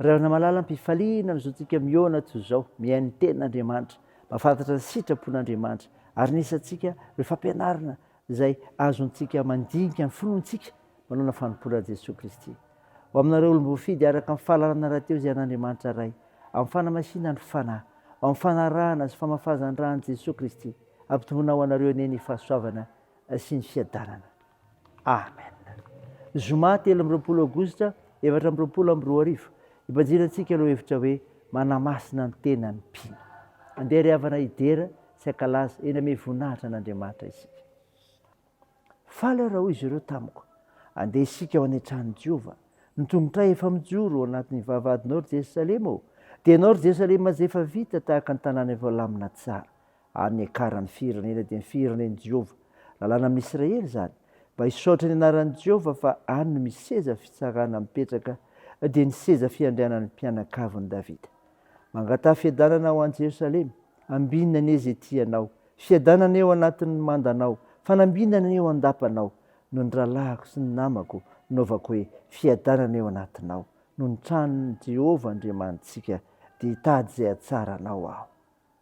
Ry havana malala am-pifaliana ny zontsika mihaona toy izao, mihaino ny tenin'Andriamanitra, mahafantatra ny sitrapon'Andriamanitra, ary ny isantsika ireo fampianarana izay azontsika mandinika ny finoantsika manao ny fanompoana Jesoa Kristy. Ho aminareo olom-boafidy araka amin'ny fahalalana rahateo izay an'Andriamanitra Ray, amin'ny fanamasinan'ny Fanahy, ao amin'ny fanarahana sy famafazan-dran'i Jesoa Kristy, ampitomboina ho anareo anie ny fahasoavana sy ny fiadanana. Amen. Zoma telo amby roapolo Aogositra efatra amby roapolo amby roa arivo, ibanjinantsika ilay hevitra hoe manamasina ny tenany mpino. Andeha ry havana hidera sy hankalaza eny amin'ny voninahitra an'Andriamanitra isika. Faly aho raha hoy izy ireo tamiko, andeha isika ho any an-tranon'i Jehovah. Ny tongotray efa mijoro ao anatin'ny vavahadinao ry Jerosalema ô! Dia ianao ry Jerosalema izay efa vita tahaka ny tanàna efa lamina tsara. ary ny hiakaran'ny firenena dia ny firenen'i Jehovah. Lalàna amin'ny Isiraely izany. Mba hisaotra ny anaran'i Jehovah fa any no misy seza fitsarana mipetraka, dia ny seza fiandrianan'ny mpianakavin'i Davida. Mangataha fiadanana ho an'i Jerosalema. Ambinina anie izay tianao. Fiadanana eo anatin'ny mandanao. Fanambinana eo an-dapanao. Noho ny rahalahiko sy ny namako, novaoko hoe fiadanana eo anatinao. Noho ny tranon'i Jehovah Andriamanitsika, dia hitady izay hahatsara anao aho.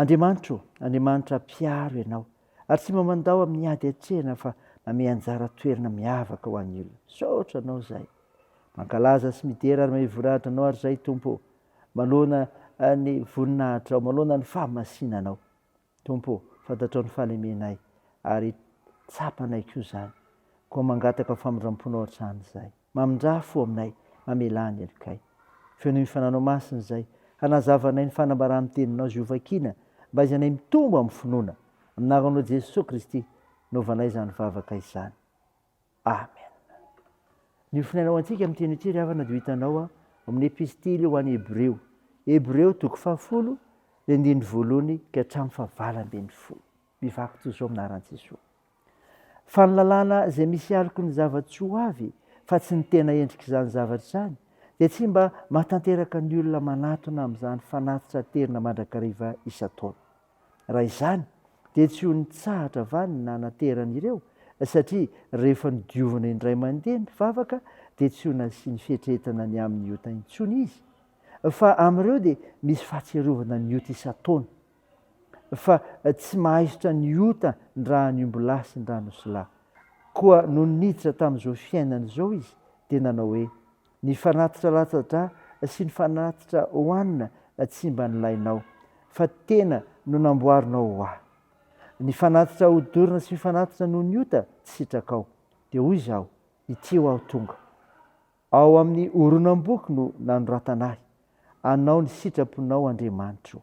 Andriamanitra ô, Andriamanitra mpiaro ianao, ary tsy mba mandao amin'ny ady atrehina fa manome anjara toerana miavaka ho an'ny olona. Misaotra Anao izahay. Mankalaza sy midera ary mahevory adra Anao ary izahay Tompo ô, manoloana ny voninahitrao, manoloana ny fahamasinanao. Tompo ô, fantatrao ny fahalemenay, ary tsapanay koa izany, koa mangataka famindram-ponao hatrany izay. Mamindrà fo aminay, mamelà ny helokay. Feo noho ny Fananao Masina izay, hanazava anay ny fanambaran'ny Teninao izay hovakina, mba haizanay mitombo amin'ny finoana. Amin'ny Anaranao Jesoa Kristy, nôvanay izany vavaka izany. Amen. Ny ofona anao antsika amin'ny teny ity ry havana dia ho hitanao ao amin'ny epistily ho an'ny Hebreo. Hebreo toko fahafolo, ny andininy voalohany ka hatramin'ny fahavalo ambin'ny folo. Mivaky toy izao amin'ny anaran'i Jesoa. Fa ny lalàna izay misy aloky ny zava-tsy ho avy fa tsy ny tena endrik'izany zavatra izany dia tsy mba mahatanteraka ny olona manatona amin'izany fanatitra aterina mandrakariva isan-taona. Raha izany dia tsy ho nitsahatra va ny nanatery an'ireo satria rehefa nodiovina indray mandeha ny vavaka dia tsy ho nasiany fietrehetana ny amin'ny ota intsony izy fa amin'ireo dia misy fahatsiarovana ny ota isan-taona fa tsy mahaisotra ny ota ndrahan'ny ombilahy sy ndrahan'osilahy koa nony niditra tamin'izao fiainana izao izy dia nanao hoe Ny fanatitra latsa-drà sy ny fanatitra hohanina tsy mba nilainao, fa tena no namboarinao ho ahy. Ny fanatitra hodorana sy ny fanatitra noho ny ota tsy sitrakao. Dia hoy izaho, Ity ho aho tonga. Ao amin'ny horonam-boky no nanoratana ahy, Anao ny sitraponao, Andriamanitro ô.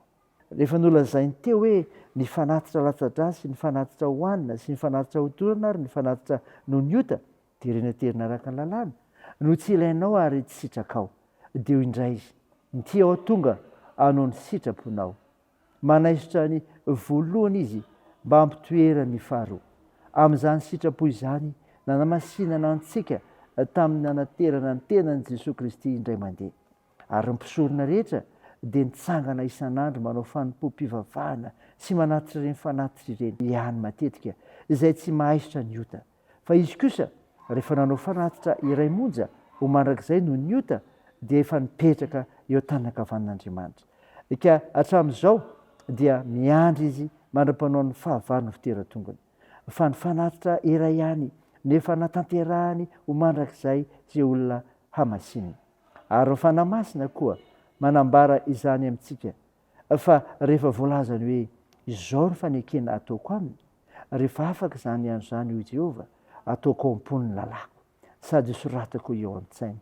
Rehefa nolazainy teo hoe ny fanatitra latsa-drà sy ny fanatitra hohanina sy ny fanatitra hodorana ary ny fanatitra noho ny ota Terena terena araka ny lalàna no tsy ilainao ary tsy sitrakao. Deo indray izy. Nty aho tonga anao ny sitraponao. Manaisotra ny voalohany izy mba hampitoherany ny faharoa. Amin'izany sitrapo izany nanamasinana antsika tamin'ny nanaterana ny tenan'i Jesoa Kristy indray mandeha. Ary ny mpisorona rehetra dia nitsangana isan'andro manao fanompoam-pivavahana sy manatitra ireny fanatitra ireny ihany matetika izay tsy mahaisotra ny ota. Fa izy kosa, rehefa nanao fanatitra iray monja ho mandrakizay noho ny ota, dia efa nipetraka eo an-tanana ankavanin'Andriamanitra. Ka hatramin'izao dia miandry izy mandra-panao ny fahavalon'ny fitera-tongony. Fa ny fanatitra iray ihany no efa natanterahany ho mandrakizay sy olona hamasinina. Ary ny Fanahy Masina koa manambara izany amintsika fa rehefa voalazany hoe izao ny fanekena ataoko aminy, rehefa afaka izany andro izany, hoy Jehovah, ataoko ao am-pony ny lalàko, sady soratako eo an-tsainy.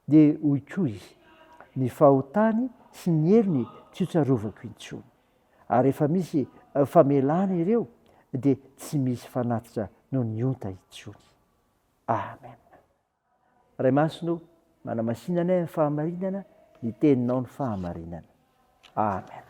Dia hoy koa izy, Ny fahotany sy ny helony tsy hotsarovako intsony. Ary rehefa misy famelana ireo, dia tsy misy fanatitra noho ny onta intsony. Amen. Ray Masina o, manamasina anay amin'ny fahamarinana ny teninao ny fahamarinana. Amen.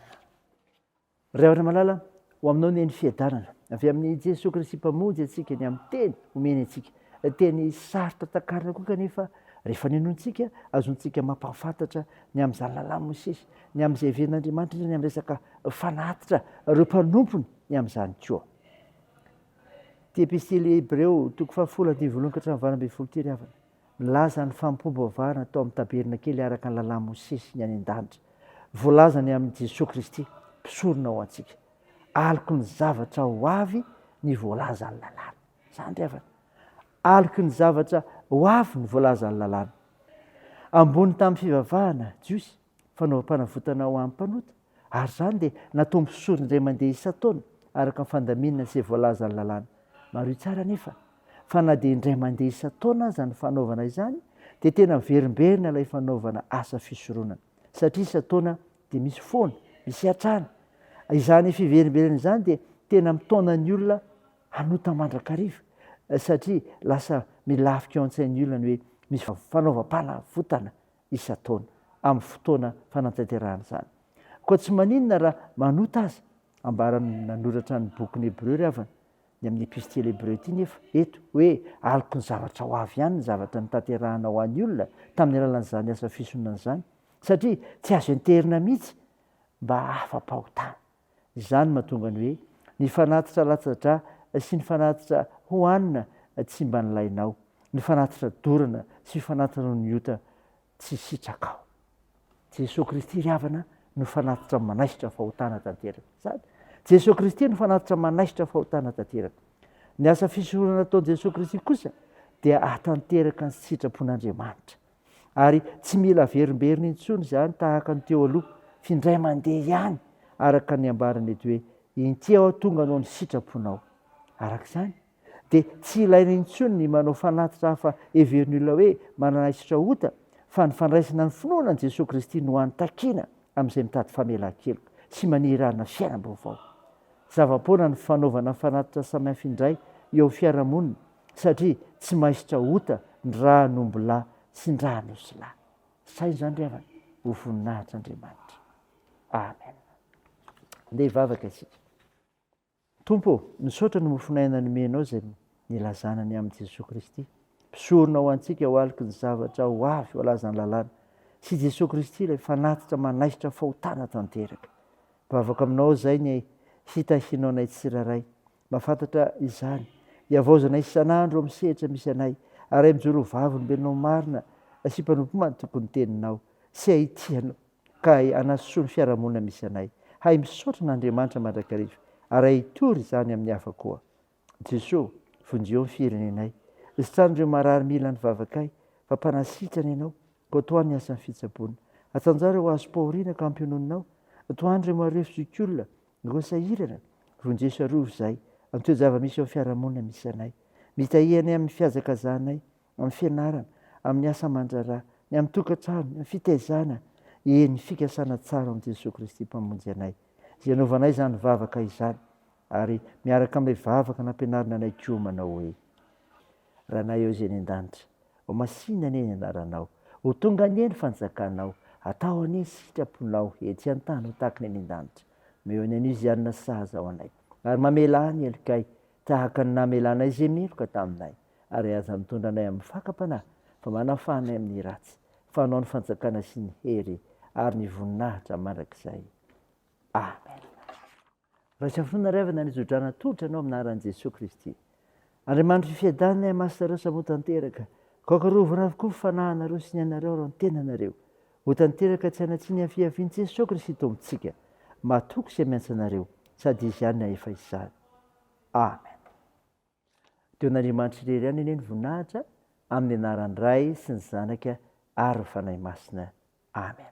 Ray Andry Malala, ho aminao ny eny fiadanana, avy amin'i Jesoa Kristy Mpamonjy antsika ny amin'ny teny omeny antsika. Teny sarotra takarina koa kanefa rehefa ninoantsika, azontsika mampahafantatra ny amin'izany lalàn'i Mosesy, ny amin'izay heverin'Andriamanitra indrindra ny amin'ny resaka fanatitra ireo mpanompony ny amin'izany koa. Ity epistily Hebreo, toko fahafolo andininy voalohany ka hatramin'ny valo ambin'ny folo ity ry havana, milaza ny fampiombivavahana atao amin'ny tabernakely araka ny lalàn'i Mosesy ny any an-danitra. Voalaza ny amin'i Jesoa Kristy, mpisorona ho antsika. Aloky ny zavatra ho avy ny voalazan'ny lalàna. Izany ry havana. Aloky ny zavatra ho avy ny voalazan'ny lalàna. Ambony tamin'ny fivavahana jiosy, fanaovam-panavotana ho an'ny mpanota, ary izany dia natao misory indray mandeha isan-taona araka ny fandaminana izay voalazan'ny lalàna. Mariho tsara anefa fa na dia indray mandeha isan-taona aza ny fanaovana izany dia tena miverimberina ilay fanaovana asa fisoronana, satria isan-taona dia misy foana, misy hatrany. Izany fiverimberena izany dia tena mitaona ny olona hanota mandrakariva, satria lasa milafika ao an-tsain'ny olona ny hoe misy fanaovam-panavotana isan-taona amin'ny fotoana fanatanterahana izany. Koa tsy maninona raha manota aza, ambaran'ny nanoratra ny bokin'ny Hebreo ry havana, ny amin'ny Epistily Hebreo ity nefa, eto, hoe aloky ny zavatra ho avy ihany ny zavatra notanterahanao ho an'ny olona tamin'ny alalan'izany asa fisonona izany, satria tsy azo enterina mihitsy mba afa-pahotana. Izany no mahatonga ny hoe ny fanatitra latsa-dra sy ny fanatitra hohanina tsy mba nilainao, ny fanatitra dorana sy fanatitra noho ny ota tsy sitrakao. Jesoa Kristy ry havana no fanatitra manaisotra fahotana tanteraka. Izany. Jesoa Kristy no fanatitra manaisotra fahotana tanteraka. Ny asa fisoronana ataon'i Jesoa Kristy kosa dia ahatanteraka ny sitrapon'Andriamanitra. Ary tsy mila averimberina intsony izany tahaka ny teo aloha f'indray mandeha ihany araka ny ambarany eto hoe inty aho tonga anao ny sitraponao. Araka izany dia tsy ilaina intsony ny manao fanatitra hafa heverin'ny olona hoe manana hisatra ota fa ny fandraisana ny finoana an'i Jesoa Kristy no hany takiana amin'izay mitady famelan-keloka sy maniry hanana fiainam-baovao. Zava-poana ny fanaovana fanatitra samihafa indray eo amin'ny fiarahamonina satria tsy maisotra ota ny rahan'omby lahy sy ny rahan'osy lahy. Sahy izany ry havana ho voninahitr'Andriamanitra. Amen. Ndeha hivavaka isika. Tompo, misaotra ny mofon'aina nomenao izay nilazana ny amin'i Jesoa Kristy. Mpisorona ho antsika ho aloky ny zavatra ho avy ho alazan'ny lalàna. Sy Jesoa Kristy ilay fanatitra manaisotra fahotana tanteraka. Vavaka aminao izay ny hitahianao anay tsirairay. Mba fantatra izany. Iavaozanay isan'andro amin'ny sehatra misy anay, aray mijoro ho vavolombelonao marina sy mpanompo matoky ny Teninao, sy hay tia Anao, ka hay hanasoa ny fiarahamonina misy anay. Hay misaotra an'Andriamanitra mandrakariva, ary hay hitory izany amin'ny hafa koa. Jesoa, vonjeo ny firenenay. Sitrano ireo marary mila ny vavakay, fa mpanasitrana Ianao, koa tohano ny asan'ny fitsaboana. Atsanjaro ireo hazo-pahoriana ka hampiononinao. Tohano ireo marefozokiolona, Roa sahirana, roa njeso ary roa zay, amin'ny toe-java-misy ao amin'ny fiarahamonina misy anay. Mitahia anay amin'ny fihazakazahanay, amin'ny fianarana, amin'ny asa aman-draharaha, ny amin'ny tokantrano, ny amin'ny fitaizana, eny, ny fikasana tsara ao amin'i Jesoa Kristy Mpamonjy anay, izay anaovanay izany vavaka izany, ary miaraka amin'ilay vavaka nampianarina anay koa manao hoe. Ranay ao izay any an-danitra. Ho masìna anie ny anaranao. Ho tonga anie ny fanjakanao. Atao anie ny sitraponao etsy an-tany ho tahaka ny any an-danitra. Omeo ny anio izay hanina sahaza ho anay. Ary mamelà ny helokay tahaka ny namelanay izay meloka taminay. Ary aza mitondra anay amin'ny fakam-panahy, fa manafaha anay amin'ny ratsy. Fa anao ny fanjakana sy ny hery ary ny voninahitra mandrakizay. Amena. Raisafona ry havana nitso-drano atolotra anao amin'ny anaran'i Jesoa Kristy. Andriamanitr'i Fiadanana Iah Masinareo Samy ho tanteraka, Kaoka rovina avokoa ny fanahinareo sy ny anareo ary ny tenanareo. Ho tanteraka tsy hanatsiny hiafiafin'i Jesoa Kristy Tompontsika. Matoky izay miantsa anareo, sady Izy ihany hahefa izany. Amen. Dia ho an'Andriamanitra irery ihany anie ny voninahitra, amin'ny anaran'ny Ray sy ny Zanaka ary ny Fanahy Masina. Amen.